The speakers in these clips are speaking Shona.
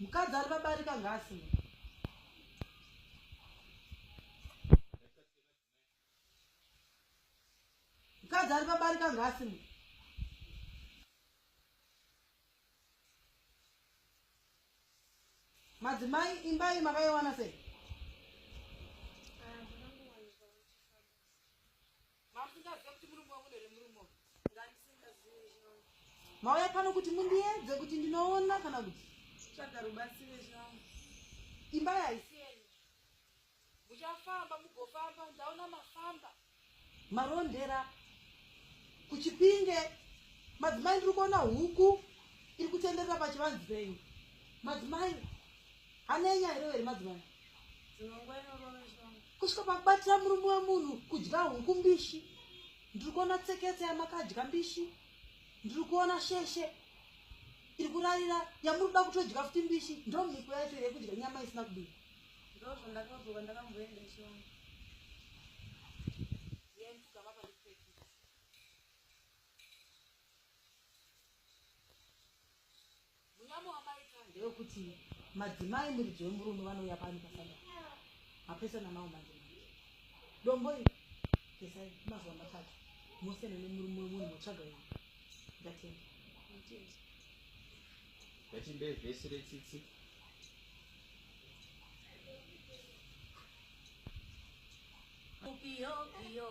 Mukadzi ari pabarika ngaasima. Mukadzi ari pabarika ngaasima. Madzimai imba iyi makaiwana sei? mauya pano kuti mundiedze kuti ndinoona kana kuti tsvaga rubatsire zvangu imba yaisiyeni muchafamba mugofamba ndaona mafamba marondera kuchipinge madzimai ndiri kuona huku iri kutenderera pachivanzi penyu madzimai anenya here weri madzimai kusvika pakubatira murume wemunhu kudya huku mbishi ndiri kuona tseketse yamakadya mbishi ndiri kuona sheshe iri kurarira yamuri kuda kutodya futi mbishi ndo mhiko yacho yekudya nyama isina kubika ndozvandakazoka ndakamboenda chivangu Munyama wamaita ndewekuti madzimai muridzi wemurume vanouya pano pasada mapesana mawo manje manje dombo iri kesai mazuva matatu mosiyana nemurume wemunhu motsvaga yena ndatenda ngatimbe vhesi retsitsi Yo, yo.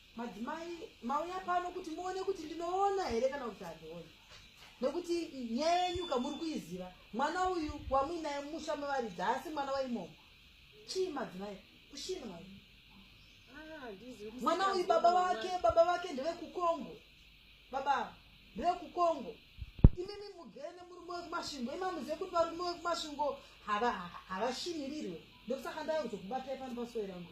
Madzimai mauya pano kuti muone kuti ndinoona here kana kuti handioni nekuti nyaya yenyu kamuri kuiziva mwana uyu wamuinaye musha mevaridzi haasi mwana waimomo chii madzimai kushina mai ah, mwana uyu baba vake baba vake ndevekukongo baba ndevekukongo imimi mugene murume wekumasvingo imamuzive kuti varume wekumasvingo havashinirirwe ndokusaka ndava kuzokubatai pano pasoerangu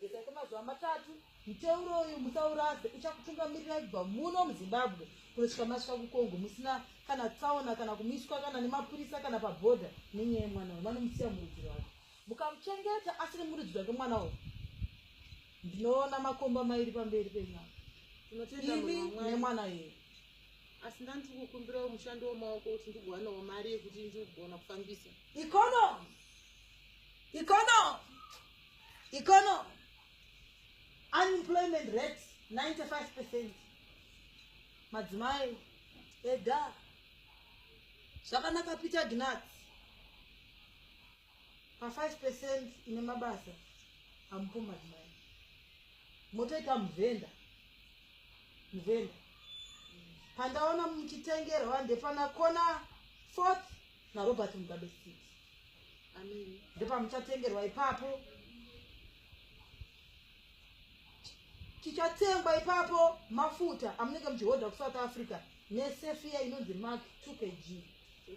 Geza kwemazuva matatu, muteuro uyu musaurase, uchakutungamirirai kubva muno muZimbabwe kunosvika masvika kuCongo musina kana tsaona kana kumiswa kana nemapurisa kana pabhodha nenyaya yemwana uyu, vanomusiya murudzi rwake. Mukamuchengeta asiri murudzi rwake mwana uyu, ndinoona makomba mairi pamberi penyu apa, Tinotenda imi munhu waMwari. nemwana uyu. asi ndani tiri kukumbirawo mushando wemaoko kuti ndigowanawo mari yekuti ndigona kufambisa Economy! Economy! economy unemployment rate 95 percent madzimai eda zvakanaka peter gnat pa 5 percent ine mabasa amupo madzimai motoita muvhenda muvhenda pandaona muchitengerwa ndepana kona fourth narobert mugabe city ndepamuchatengerwa ipapo chichatengwa ipapo mafuta amunenge muchihodha kusouth africa nesefiya inonzi mark two k g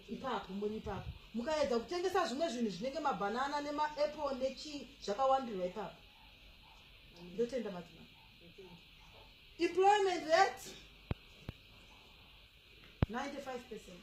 ipapo muri ipapo mukaedza kutengesa zvimwe zvinhu zvinenge mabhanana nemaapple nechii zvakawandirwa ipapo ndotenda madzima employment rate 95 percent